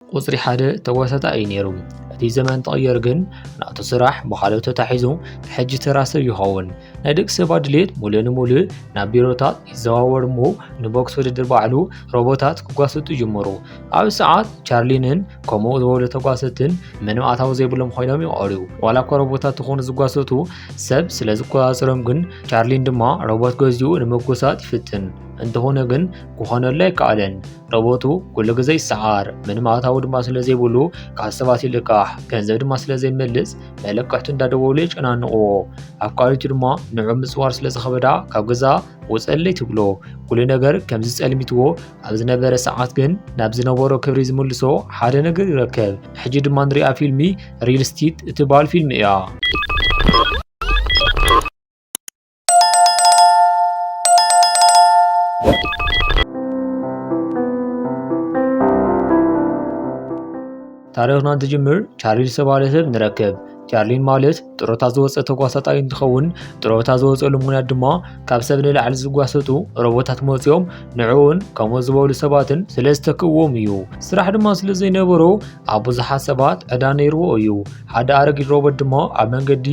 ቁጽሪ ሓደ ተዋሳጣኢ እዩ ነይሩ። እቲ ዘመን ተቐየር ግን ናቱ ስራሕ ብኻልኦት ተታሒዙ ሕጂ ተራ ሰብ ይኸውን። ናይ ደቂ ሰባት ድሌት ሙሉእ ንሙሉእ ናብ ቢሮታት ይዘዋወር እሞ ንቦክስ ውድድር ባዕሉ ሮቦታት ክጓሰጡ ይጅምሩ። ኣብ ሰዓት ቻርሊንን ከምኡ ዝበሉ ተጓሰትን ምንም ኣታዊ ዘይብሎም ኮይኖም ይቐሩ። ዋላ እኳ ሮቦታት ዝኾኑ ዝጓሰቱ ሰብ ስለ ዝቆጻጸሮም ግን ቻርሊን ድማ ሮቦት ገዚኡ ንመጎሳት ይፍትን። እንተኾነ ግን ክኾነሉ ኣይከኣለን። ረቦቱ ኩሉ ግዜ ይሰዓር ምንም ኣታዊ ድማ ስለ ዘይብሉ ካብ ሰባት ይልቃሕ ገንዘብ ድማ ስለ ዘይመልስ መለቀሕቱ እንዳደወሉ የጨናንቕዎ ኣብ ካልኦት ድማ ንዑ ምፅዋር ስለ ዝኸበዳ ካብ ገዛ ወፀለይ ትብሎ ኩሉ ነገር ከም ዝፀልሚትዎ ኣብ ዝነበረ ሰዓት ግን ናብ ዝነበሮ ክብሪ ዝምልሶ ሓደ ነገር ይረከብ ሕጂ ድማ ንሪኣ ፊልሚ ሪል ስቲት እትበሃል ፊልሚ እያ ታሪኽና እንትጅምር ቻርሊ ዝተባህለ ሰብ ንረክብ። ቻርሊ ማለት ጥሮታ ዝወፀ ተጓሳጣይ እንትኸውን ጥሮታ ዝወፀሉ ምክንያት ድማ ካብ ሰብ ንላዕሊ ዝጓሰጡ ሮቦታት መፅኦም ንዕኡን ከምኡ ዝበሉ ሰባትን ስለ ዝተክእዎም እዩ። ስራሕ ድማ ስለ ዘይነበሮ ኣብ ብዙሓት ሰባት ዕዳ ነይርዎ እዩ። ሓደ ኣረጊት ሮቦት ድማ ኣብ መንገዲ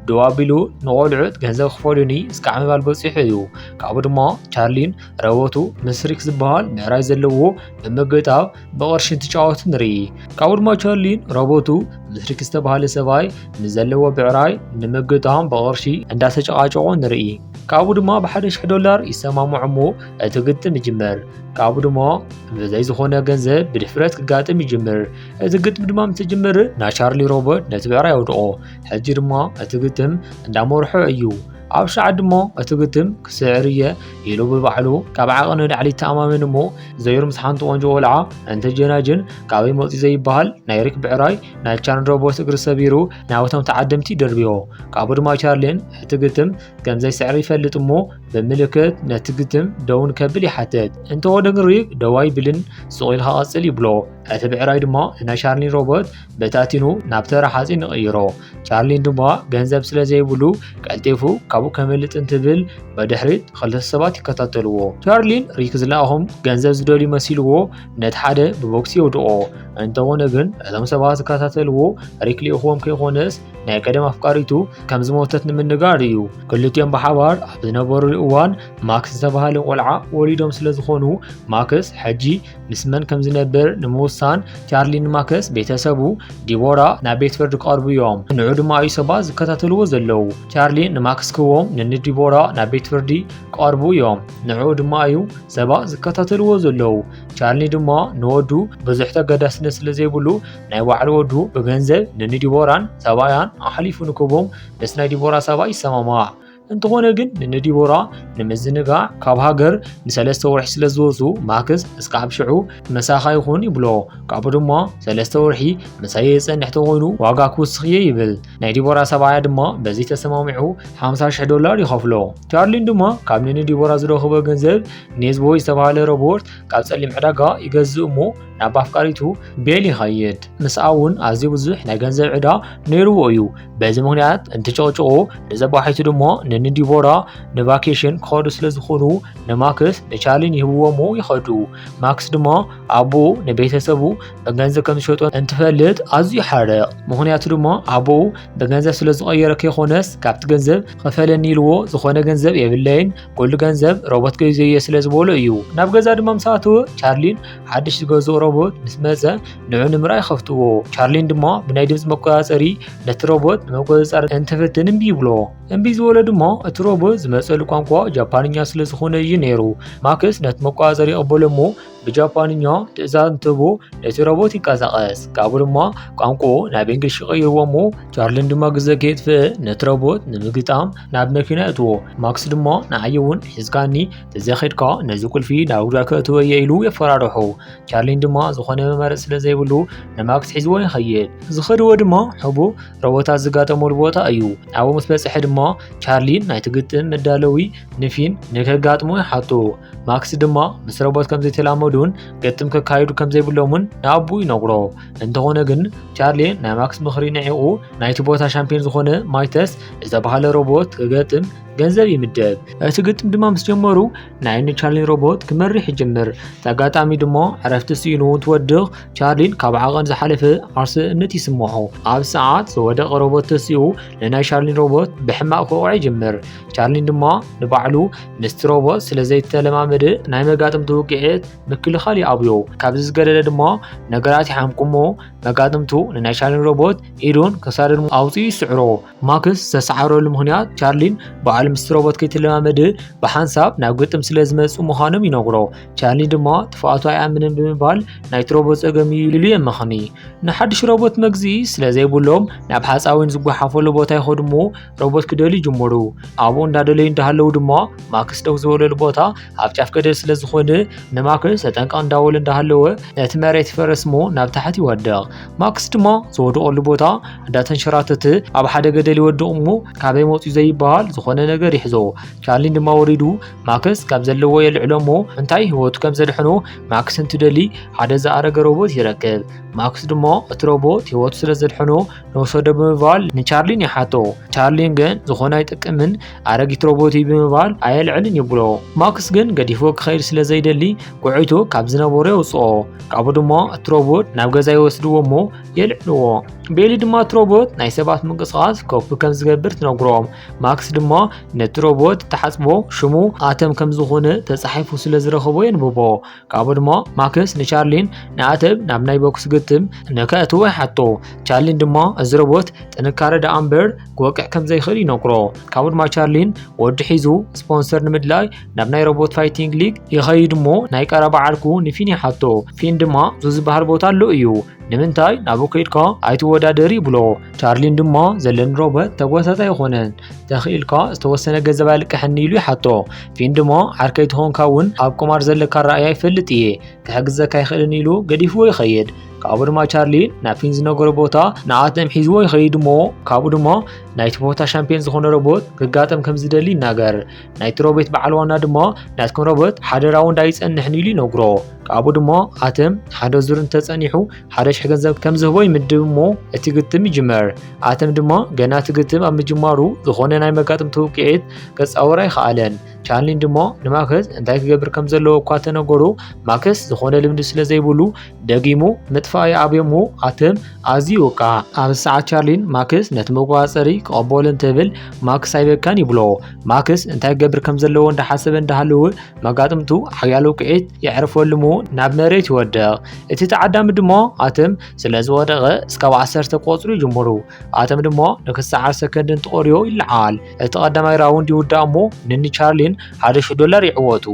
ደው ኣቢሉ ንቖልዑት ገንዘብ ክፈልዩኒ እስከ ዓምባል በፂሑ እዩ ካብኡ ድማ ቻርሊን ረበቱ ምስ ሪክ ዝበሃል ምዕራይ ዘለዎ ብምግጣብ ብቕርሺ እንትጫወቱ ንርኢ ካብኡ ድማ ቻርሊን ረበቱ ምስ ሪክ ዝተባሃለ ሰብኣይ ምስ ዘለዎ ብዕራይ ንምግጣም ብቕርሺ እንዳተጨቃጨቆ ንርኢ ካብኡ ድማ ብሓደ ሽሕ ዶላር ይሰማምዑ እሞ እቲ ግጥም ይጅመር ካብኡ ድማ ብዘይ ዝኾነ ገንዘብ ብድፍረት ክጋጥም ይጅምር እዚ ግጥም ድማ ምስ ጅምር ናይ ቻርሊ ሮበርት ነቲ ብዕራይ የውድቆ ሕጂ ድማ እቲ ግጥም እንዳመርሖ እዩ ኣብ ሻዕ ድሞ እቲ ግጥም ክስዕር እየ ኢሉ ብባዕሉ ካብ ዓቐ ንላዕሊ ተኣማመን እሞ ዘይሩ ምስ ሓንቲ ቆንጆ ቆልዓ እንተጀናጅን ካበይ መፂ ዘይበሃል ናይ ሪክ ብዕራይ ናይ ቻን ሮቦት እግሪ ሰቢሩ ናብቶም ተዓደምቲ ደርብዮ ካብኡ ድማ ቻርሊን እቲ ግጥም ከም ዘይስዕር ይፈልጥ እሞ ብምልክት ነቲ ግጥም ደውን ከብል ይሓትት እንተወደ ግን ሪክ ደው ኣይብልን ስቑ ኢልካ ቀፅል ይብሎ እቲ ብዕራይ ድማ ንናይ ቻርሊን ሮቦት በታቲኑ ናብ ተራ ሓፂን ይቕይሮ። ቻርሊን ድማ ገንዘብ ስለ ዘይብሉ ቀልጢፉ ካብኡ ከምልጥ እንትብል ብድሕሪት ክልተ ሰባት ይከታተልዎ። ቻርሊን ሪክ ዝለኣኹም ገንዘብ ዝደልዩ መሲልዎ ነቲ ሓደ ብቦክሲ የውድቆ። እንተኾነ ግን እቶም ሰባት ዝከታተልዎ ሪክ ልኢኹዎም ከይኾነስ ናይ ቀደም ኣፍቃሪቱ ከም ዝሞተት ንምንጋር እዩ። ክልቲኦም ብሓባር ኣብ ዝነበሩሉ እዋን ማክስ ዝተባሃለ ቆልዓ ወሊዶም ስለ ዝኾኑ ማክስ ሕጂ ምስ መን ከም ዝነብር ንምውሳን ቻርሊ ንማከስ ቤተሰቡ ዲቦራ ናብ ቤት ፍርዲ ክቐርቡ እዮም ንዑ ድማ እዩ ሰባት ዝከታተልዎ ዘለዉ ቻርሊ ንማክስ ክዎም ንንዲቦራ ናብ ቤት ፍርዲ ክቐርቡ እዮም ንዑ ድማ እዩ ሰባት ዝከታተልዎ ዘለዉ ቻርሊ ድማ ንወዱ ብዙሕ ተገዳስነት ስለ ዘይብሉ ናይ ባዕሉ ወዱ ብገንዘብ ንንዲቦራን ሰብኣያን ኣሕሊፉ ንክቦም ምስ ናይ ዲቦራ ሰብኣይ ይሰማማዕ እንተኾነ ግን ንነዲቦራ ንምዝንጋዕ ካብ ሃገር ንሰለስተ ወርሒ ስለ ዝወፁ ማክስ እስካብ ሽዑ መሳኻ ይኹን ይብሎ ካብኡ ድማ ሰለስተ ወርሒ ምሳየ የፀንሕ ተኾይኑ ዋጋ ክውስኽ እየ ይብል ናይ ዲቦራ ሰብኣያ ድማ በዚ ተሰማሚዑ 50 ሽሕ ዶላር ይኸፍሎ ቻርሊን ድማ ካብ ንንዲቦራ ዝረኽቦ ገንዘብ ኔዝቦ ዝተባሃለ ሮቦርት ካብ ፀሊም ዕዳጋ ይገዝእ እሞ ናብ ኣፍቃሪቱ ቤል ይኸይድ። ምስኣ እውን ኣዝዩ ብዙሕ ናይ ገንዘብ ዕዳ ነይርዎ እዩ። በዚ ምክንያት እንትጨቕጭቑ ንዘባሒቱ ድሞ ንንዲቦራ ንቫኬሽን ክኸዱ ስለ ዝኾኑ ንማክስ ንቻርሊን ይህብዎሞ ይኸዱ። ማክስ ድማ ኣቦኡ ንቤተሰቡ ብገንዘብ ከም ዝሸጦ እንትፈልጥ ኣዝዩ ይሓርቕ። ምክንያቱ ድማ ኣቦኡ ብገንዘብ ስለ ዝቐየረ ከይኮነስ ካብቲ ገንዘብ ኸፈለኒ ኢልዎ ዝኾነ ገንዘብ የብለይን ኩሉ ገንዘብ ሮቦት ገይዘዮ ስለ ዝበሎ እዩ። ናብ ገዛ ድማ ምስ ኣተወ ቻርሊን ሓድሽ ዝገዝኦ ሮቦት ምስ መፀ ንዑ ንምርኣይ ይኸፍትዎ ቻርሊን ድማ ብናይ ድምፂ መቆፃፀሪ ነቲ ሮቦት ንመቆፃፀሪ እንትፍትን እምቢ ይብሎ እምቢ ዝበሎ ድማ እቲ ሮቦት ዝመፀሉ ቋንቋ ጃፓንኛ ስለ ዝኾነ እዩ ነይሩ ማክስ ነቲ መቆፃፀሪ ይቕበሎ እሞ ብጃፓንኛ ትእዛዝ እንትህቦ ነቲ ሮቦት ይንቀሳቐስ ካብኡ ድማ ቋንቋኡ ናብ እንግሊሽ ይቕይርዎ እሞ ቻርሊን ድማ ግዘ ከየጥፍእ ነቲ ሮቦት ንምግጣም ናብ መኪና የእትዎ ማክስ ድማ ንዓይ እውን ሒዝካኒ ተዘኺድካ ነዚ ቁልፊ ናብ ጉዳ ከእትወ እየ ኢሉ የፈራርሑ ቻርሊን ድማ ዝኾነ መመረፅ ስለ ዘይብሉ ንማክስ ሒዝዎ ይኸይድ ዝኸድዎ ድማ ሕቡ ረቦታት ዝጋጠመሉ ቦታ እዩ ናብኡ ምስ በፅሐ ድማ ቻርሊን ናይቲ ግጥም መዳለዊ ንፊን ንከጋጥሞ ይሓቱ ማክስ ድማ ምስ ረቦት ከም ዘይተላመዱን ግጥም ከካይዱ ከም ዘይብሎምን ንኣቡ ይነግሮ እንተኾነ ግን ቻርሊ ናይ ማክስ ምኽሪ ንዒቑ ናይቲ ቦታ ሻምፒዮን ዝኾነ ማይተስ ዝተባሃለ ሮቦት ክገጥም ገንዘብ ይምደብ። እቲ ግጥም ድማ ምስ ጀመሩ ናይ ን ቻርሊን ሮቦት ክመርሕ ይጅምር። እቲ ኣጋጣሚ ድማ ዕረፍቲ ስኢኑ እንትወድቕ ቻርሊን ካብ ዓቐን ዝሓለፈ ዓርስነት ይስምዖ። ኣብ ሰዓት ዝወደቐ ሮቦት ተሲኡ ንናይ ቻርሊን ሮቦት ብሕማቕ ክወቕዖ ይጅምር። ቻርሊን ድማ ንባዕሉ ምስቲ ሮቦት ስለ ዘይተለማመደ ናይ መጋጥምቲ ውቅዒት ምክልኻል ይኣብዮ። ካብዚ ዝገደደ ድማ ነገራት ይሓምቁሞ መጋጥምቱ ንናይ ቻርሊን ሮቦት ኢዱን ክሳዱን ኣውፂኡ ይስዕሮ። ማክስ ዝተሰዓረሉ ምክንያት ቻርሊን በዓል ምስ ሮቦት ከይትለማመድ ብሓንሳብ ናብ ግጥም ስለ ዝመፁ ምዃኖም ይነግሮ ቻርሊ ድማ ጥፍኣቱ ኣይኣምንን ብምባል ናይቲ ሮቦት ፀገም እዩ ኢሉ የመኽኒ ንሓድሽ ሮቦት መግዚ ስለ ዘይብሎም ናብ ሓፃዊን ዝጓሓፈሉ ቦታ ይኸዱ እሞ ሮቦት ክደልዩ ይጅምሩ ኣብኡ እንዳደለዩ እንዳሃለዉ ድማ ማክስ ደው ዝበለሉ ቦታ ኣብ ጫፍ ገደል ስለ ዝኾነ ንማክስ ተጠንቀቕ እንዳበሉ እንዳሃለወ ነቲ መሬት ይፈርስ እሞ ናብ ታሕቲ ይወድቕ ማክስ ድማ ዝወደቐሉ ቦታ እንዳተንሸራተተ ኣብ ሓደ ገደል ይወድቕ እሞ ካበይ መፅኡ ዘይበሃል ዝኾነ ነገር ይሕዞ። ቻርሊን ድማ ወሪዱ ማክስ ካብ ዘለዎ የልዕሎ እሞ እንታይ ህይወቱ ከም ዘድሕኖ ማክስ እንትደሊ ሓደ ዝኣረገ ሮቦት ይረክብ። ማክስ ድማ እቲ ሮቦት ህይወቱ ስለ ዘድሕኖ ንወሰዶ ብምባል ንቻርሊን ይሓቶ። ቻርሊን ግን ዝኾነ ኣይጠቅምን ኣረጊት ሮቦት እዩ ብምባል ኣየልዕልን ይብሎ። ማክስ ግን ገዲፎ ክኸይድ ስለ ዘይደሊ ጉዕይቱ ካብ ዝነበሮ የውፅኦ። ካብኡ ድማ እቲ ሮቦት ናብ ገዛ ይወስድዎ እሞ የልዕልዎ። ቤሊ ድማ እቲ ሮቦት ናይ ሰባት ምንቅስቓስ ኮፒ ከም ዝገብር ትነግሮ። ማክስ ድማ ነቲ ሮቦት ተሓፅቦ ሽሙ ኣተም ከም ዝኾነ ተፃሒፉ ስለ ዝረኸቦ የንብቦ። ካብኡ ድማ ማክስ ንቻርሊን ንኣተብ ናብ ናይ ቦክስ ግጥም ንከእትዎ ይሓቶ ቻርሊን ድማ እዚ ሮቦት ጥንካረ ደኣ እምበር ክወቅዕ ከም ዘይኽእል ይነግሮ ካብኡ ድማ ቻርሊን ወዲ ሒዙ ስፖንሰር ንምድላይ ናብ ናይ ሮቦት ፋይቲንግ ሊግ ይኸይድ እሞ ናይ ቀረባ ዓርኩ ንፊን ይሓቶ ፊን ድማ ዙ ዝበሃል ቦታ ኣሎ እዩ ንምንታይ ናብኡ ከይድካ ኣይትወዳደር ይብሎ ቻርሊን ድማ ዘለኒ ሮበት ተጎታታይ ኣይኮነን ተኽኢልካ ዝተወሰነ ገንዘብ ኣልቅሐኒ ኢሉ ይሓቶ ፊን ድሞ ዓርከይ ትኾንካ እውን ኣብ ቁማር ዘለካ ኣረኣእያ ይፈልጥ እየ ክሕግዘካ ይኽእልን ኢሉ ገዲፍዎ ይኸይድ ካብኡ ድማ ቻርሊ ናብ ፊን ዝነገሮ ቦታ ንኣተም ሒዝዎ ይኸይድ እሞ ካብኡ ድማ ናይቲ ቦታ ሻምፒዮን ዝኾነ ሮቦት ክጋጠም ከም ዝደሊ ይናገር ናይቲ ሮቤት በዓል ዋና ድማ ናትኩም ሮቦት ሓደራዊ እንዳ ይጸንሕን ኢሉ ይነግሮ ካብኡ ድማ ኣትም ሓደ ዙር እንተጸኒሑ ሓደ ሽሕ ገንዘብ ከም ዝህቦ ይምድብ እሞ እቲ ግጥም ይጅመር ኣትም ድማ ገና እቲ ግጥም ኣብ ምጅማሩ ዝኾነ ናይ መጋጥምቲ ውቅዒት ከጻወር ኣይኸኣለን ቻርሊን ድማ ንማክስ እንታይ ክገብር ከም ዘለዎ እኳ ተነገሩ ማክስ ዝኾነ ልምዲ ስለ ዘይብሉ ደጊሙ ምጥፋእ ይኣብዮ እሞ ኣትም ኣዝዩ ወቃ ኣብ ሰዓት ቻርሊን ማክስ ነቲ መቆጻጸሪ ክቐበሉ እንትብል ማክስ ኣይበካን ይብሎ ማክስ እንታይ ገብር ከም ዘለዎ እንዳሓሰበ እንዳሃለወ መጋጥምቱ ሓያሎ ውቅዒት የዕርፈሉ እሞ ናብ መሬት ይወድቕ እቲ ተዓዳሚ ድማ ኣትም ስለ ዝወደቐ እስካብ ዓሰርተ ቆፅሩ ይጅምሩ ኣትም ድማ ንክሰዓር ሰከንድን ተቖርዮ ይለዓል እቲ ቀዳማይ ራውንድ ይውዳእ እሞ ንኒ ቻርሊን ሓደ ሽሕ ዶላር ይዕወቱ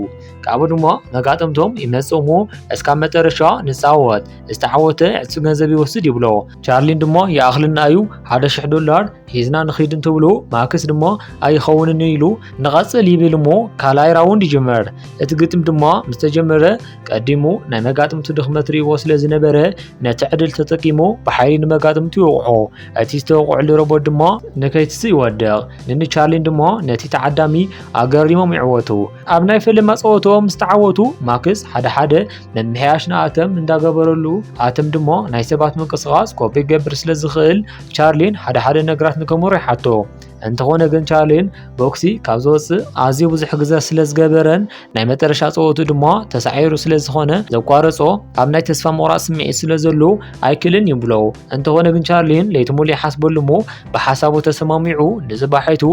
ካብኡ ድማ መጋጥምቶም ይመጽእ እሞ እስካብ መጨረሻ ንፃወት ዝተዓወተ ዕፅ ገንዘብ ይወስድ ይብሎ ቻርሊን ድማ ይኣኽልና እዩ ሓደ ሽሕ ዶላር ሂዝና ንኺድ እንትብሉ ማክስ ድማ ኣይኸውንን ኢሉ ንቐፅል ይብል እሞ ካልኣይ ራውንድ ይጅመር እቲ ግጥም ድማ ምስ ተጀመረ ቀዲሙ ናይ መጋጥምቱ ድኽመት ርእዎ ስለ ዝነበረ ነቲ ዕድል ተጠቂሙ ብሓይሊ ንመጋጥምቱ ይወቕዖ እቲ ዝተወቕዕሉ ሮቦት ድማ ንከይትስ ይወድቕ ንኒ ቻርሊን ድማ ነቲ ተዓዳሚ ኣገሪሞም ይዕወቱ ኣብ ናይ ፈለማ ጸወቶም ምስ ተዓወቱ ማክስ ሓደ ሓደ ምምሕያሽ ንኣተም እንዳገበረሉ ኣተም ድሞ ናይ ሰባት ምንቅስቓስ ኮፒ ገብር ስለ ዝኽእል ቻርሊን ሓደ ሓደ ነገራት ንከሙር ይሓቶ እንተኾነ ግን ቻርሊን ቦክሲ ካብ ዝወፅእ ኣዝዩ ብዙሕ ግዘ ስለ ዝገበረን ናይ መጠረሻ ፀወቱ ድማ ተሳዒሩ ስለ ዝኾነ ዘቋረጾ ኣብ ናይ ተስፋ ምቑራፅ ስምዒት ስለ ዘሎ ኣይክልን ይብሎ እንተኾነ ግን ቻርሊን ለይቲ ሙሉ ይሓስበሉ እሞ ብሓሳቡ ተሰማሚዑ ንዝባሒቱ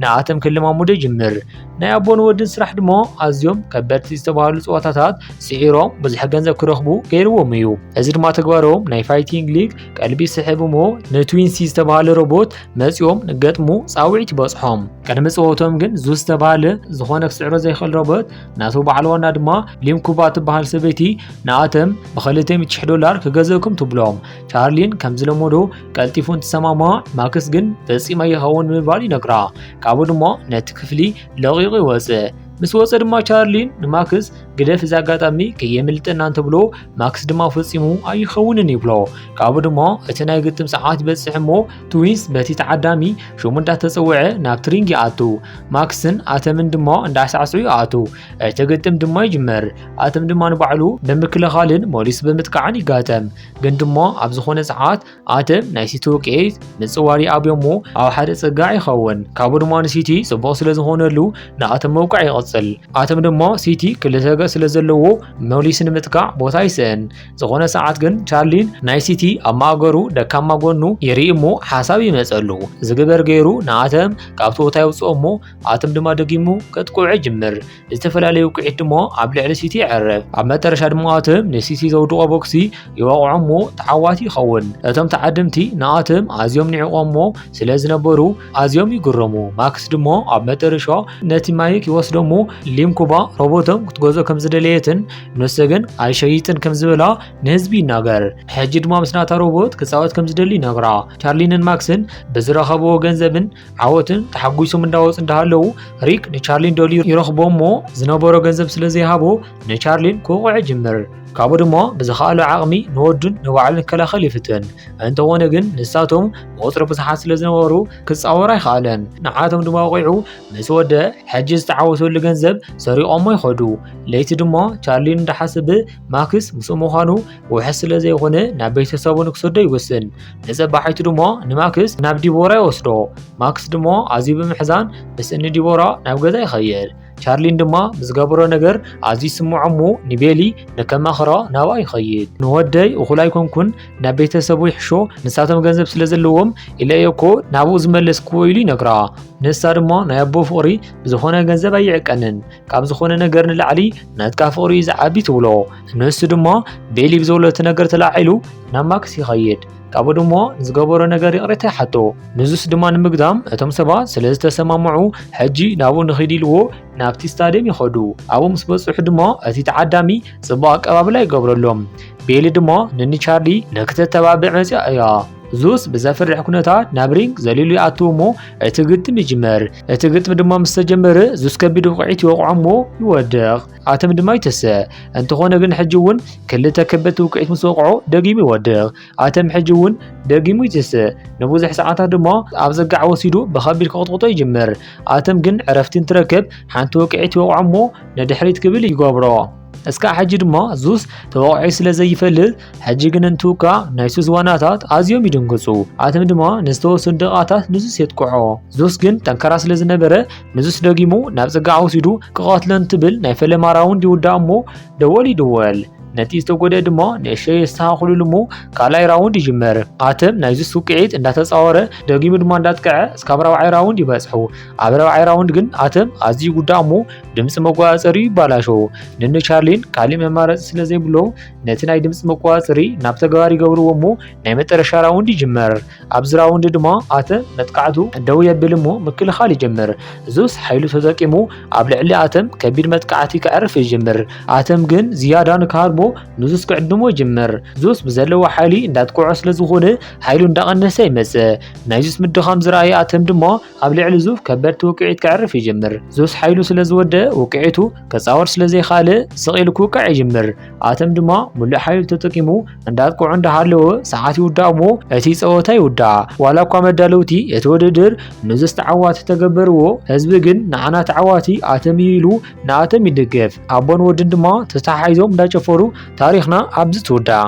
ንኣተም ክለማሙዶ ይጅምር ናይ ኣቦን ወድን ስራሕ ድማ ኣዝዮም ከበድቲ ዝተባህሉ ፀዋታታት ስዒሮም ብዙሕ ገንዘብ ክረኽቡ ገይርዎም እዩ። እዚ ድማ ተግባሮም ናይ ፋይቲንግ ሊግ ቀልቢ ስሕብ እሞ ንትዊንሲ ዝተባህለ ሮቦት መፂኦም ንገጥሙ ፃውዒት ይበፅሖም። ቅድሚ ፀወቶም ግን ዙ ዝተባህለ ዝኾነ ክስዕሮ ዘይኽእል ሮቦት ናቱ በዓል ዋና ድማ ሊምኩባ ትበሃል ሰበይቲ ንኣተም ብ200 ዶላር ክገዘእኩም ትብሎም። ቻርሊን ከምዝለመዶ ቀልጢፉ እንትሰማማ ማክስ ግን ፈፂመ ይኸውን ብምባል ይነግራ። ካብኡ ድማ ነቲ ክፍሊ ለቒቑ ይወፀ። ምስ ወፀ ድማ ቻርሊን ንማክስ ግደፍ እዚ ኣጋጣሚ ከየምልጠና እንተብሎ ማክስ ድማ ፈፂሙ ኣይኸውንን ይብሎ። ካብኡ ድማ እቲ ናይ ግጥም ሰዓት ይበፅሕ እሞ ትዊንስ በቲ ተዓዳሚ ሽሙ እንዳተፀውዐ ናብ ትሪንግ ይኣቱ። ማክስን ኣተምን ድማ እንዳሳዕስዑ ይኣቱ። እቲ ግጥም ድማ ይጅመር። ኣተም ድማ ንባዕሉ ብምክልኻልን ሞሊስ ብምጥቃዕን ይጋጠም። ግን ድማ ኣብ ዝኾነ ሰዓት ኣተን ናይ ሲቲ ውቅዒት ንጽዋር ይኣብዮ እሞ ኣብ ሓደ ጽጋዕ ይኸውን ካብኡ ድማ ንሲቲ ጽቡቕ ስለ ዝኾነሉ ንኣተም መውቃዕ ይቕጽል ኣተም ድማ ሲቲ ክልተ ገጽ ስለ ዘለዎ መሊሱ ንምጥቃዕ ቦታ ይስእን ዝኾነ ሰዓት ግን ቻርሊን ናይ ሲቲ ኣብ ማእገሩ ደካማ ጎኑ ይርኢ እሞ ሓሳብ ይመጸሉ ዝግበር ገይሩ ንኣተም ካብቲ ቦታ የውጽኦ እሞ ኣተም ድማ ደጊሙ ከጥቅዑ ይጅምር ዝተፈላለዩ ውቅዒት ድሞ ኣብ ልዕሊ ሲቲ ይዕርፍ ኣብ መጠረሻ ድሞኣትም ንሲቲ ዘውድቆ ቦክሲ ይወቕዖሞ ተዓዋቲ ይኸውን እቶም ተዓድምቲ ንኣትም ኣዝዮም ንዕቆሞ ስለ ዝነበሩ ኣዝዮም ይግረሙ ማክስ ድሞ ኣብ መጠረሻ ነቲ ማይክ ይወስደሞ ሊምኩባ ሮቦቶም ክትገዝኦ ከም ዝደለየትን ንሱ ግን ኣይሸይጥን ከም ዝበላ ንህዝቢ ይናገር ሕጂ ድማ ምስናታ ሮቦት ክፃወት ከም ዝደሊ ይነግራ ቻርሊንን ማክስን ብዝረኸብዎ ገንዘብን ዓወትን ተሓጒሶም እንዳወፅ እንዳሃለዉ ሪክ ንቻርሊን ደልዩ ይረኽቦ እሞ ዝነበሮ ገንዘብ ስለ ዘይሃቦ ንቻርሊን ክውቕዕ ይጅምር ካብኡ ድማ ብዝኸኣሎ ዓቕሚ ንወዱን ንባዕሉን ክከላኸል ይፍትን እንተኾነ ግን ንሳቶም ብቁፅሪ ብዙሓት ስለ ዝነበሩ ክፃወር ኣይኸኣለን ንዓቶም ድማ ወቂዑ ምስ ወደ ሕጂ ዝተዓወተሉ ገንዘብ ሰሪቖሞ ይኸዱ ለይቲ ድማ ቻርሊን እንዳሓስብ ማክስ ምስኡ ምዃኑ ውሕስ ስለ ዘይኾነ ናብ ቤተሰቡ ንክሰዶ ይውስን ንፀባሒቱ ድሞ ንማክስ ናብ ዲቦራ ይወስዶ ማክስ ድሞ ኣዝዩ ብምሕዛን ምስ እኒ ዲቦራ ናብ ገዛ ይኸይድ ቻርሊን ድማ ብዝገበሮ ነገር ኣዝዩ ስምዖ እሞ ንቤሊ ንከማኽሮ ናብኣ ይኸይድ ንወደይ እኹል ኣይኮንኩን ናብ ቤተሰቡ ይሕሾ ንሳቶም ገንዘብ ስለ ዘለዎም ኢለ እየ እኮ ናብኡ ዝመለስክዎ ኢሉ ይነግራ ንሳ ድማ ናይ ኣቦ ፍቕሪ ብዝኾነ ገንዘብ ኣይዕቀንን ካብ ዝኾነ ነገር ንላዕሊ ናትካ ፍቕሪ እዩ ዝዓቢ ትብሎ ንሱ ድማ ቤሊ ብዘብለቲ ነገር ተላዒሉ ናብ ማክስ ይኸይድ ካብኡ ድማ ንዝገበሮ ነገር ይቕሬታ ይሓቶ ንዙስ ድማ ንምግዳም እቶም ሰባት ስለ ዝተሰማምዑ ሕጂ ናብኡ ንኺድ ኢልዎ ናብቲ ስታድየም ይኸዱ ኣብኡ ምስ በፅሑ ድማ እቲ ተዓዳሚ ፅቡቕ ኣቀባብላ ይገብረሎም ቤሊ ድማ ንኒቻርሊ ንክተተባብዕ መፅያ እያ ዙስ ብዘፍርሕ ኩነታት ናብ ሪንግ ዘሊሉ ይኣትው እሞ እቲ ግጥም ይጅመር እቲ ግጥሚ ድማ ምስ ተጀመረ ዙስ ከቢድ ውቕዒት ይወቕዖ እሞ ይወድቕ፣ ኣተም ድማ ይትሰ። እንተኾነ ግን ሕጂ እውን ክልተ ከበድቲ ውቅዒት ምስ ወቕዖ ደጊሙ ይወድቕ፣ ኣተም ሕጂ እውን ደጊሙ ይትሰ። ንብዙሕ ሰዓታት ድማ ኣብ ዘጋዕ ወሲዱ ብኸቢድ ክቕጥቕጦ ይጅምር። ኣተም ግን ዕረፍቲ እንትረክብ ሓንቲ ውቅዒት ይወቕዖ እሞ ንድሕሪት ክብል ይገብሮ። እስካዕ ሕጂ ድማ ዙስ ተወቕዒ ስለ ዘይፈልጥ ሕጂ ግን እንትውቃዕ ናይ ሱስ ዋናታት ኣዝዮም ይድንግጹ፣ ኣቶም ድማ ንዝተወሰኑ ደቓታት ንሱስ የጥቅዖ። ዙስ ግን ጠንካራ ስለ ዝነበረ ንሱስ ደጊሙ ናብ ጽግዓ ወሲዱ ክቐትሎ እንትብል ናይ ፈለማ ራውንድ ይውዳእ እሞ ደወል ይድወል። ነቲ ዝተጎድኤ ድማ ንእሸተይ የስተኻኽሉሉ እሞ ካልኣይ ራውንድ ይጅመር። ኣቶም ናይ ዙስ ውቅዒት እንዳተጻወረ ደጊሙ ድማ እንዳጥቅዐ እስካብ ራብዓይ ራውንድ ይበጽሑ። ኣብ ራብዓይ ራውንድ ግን ኣቶም ኣዝዩ ይጉዳእ እሞ ድምጺ መጓጸጸሪኡ ይባላሸው። ንንቻርሊን ካሊእ መማረጺ ስለ ዘይብሎም ነቲ ናይ ድምፂ መቆፃፀሪ ናብ ተግባር ይገብርዎ እሞ ናይ መጠረሻ ራውንድ ይጅመር ኣብዚ ራውንድ ድማ ኣተ መጥቃዕቱ ደው የብል እሞ ምክልኻል ይጀምር እዙስ ሓይሉ ተጠቂሙ ኣብ ልዕሊ ኣተም ከቢድ መጥቃዕቲ ክዕርፍ ይጅምር ኣተም ግን ዝያዳ ንክሃርቦ ንዙስ ክዕድሞ ይጅምር ዙስ ብዘለዎ ሓይሊ እንዳጥቅዖ ስለዝኾነ ሓይሉ እንዳቐነሰ ይመፅእ ናይ ዙስ ምድኻም ዝረኣየ ኣተም ድማ ኣብ ልዕሊ ዙፍ ከበድቲ ውቅዒት ከዕርፍ ይጅምር። ዙስ ሓይሉ ስለ ዝወደእ ውቅዒቱ ከጻወር ስለ ዘይካለ ስቕ ኢሉ ክውቃዕ ይጅምር። ኣተም ድማ ሙሉእ ሓይሉ ተጠቂሙ እንዳጥቅዑ እንዳሃለወ ሰዓት ይውዳእ እሞ እቲ ጸወታ ይውዳእ። ዋላ እኳ መዳለውቲ እቲ ውድድር ንዙስ ተዓዋቲ ተገበርዎ ህዝቢ ግን ንዓና ተዓዋቲ ኣተም እዩ ኢሉ ንኣተም ይድግፍ። ኣቦን ወድን ድማ ተተሓሒዞም እንዳጨፈሩ ታሪኽና ኣብዚ ትውዳእ።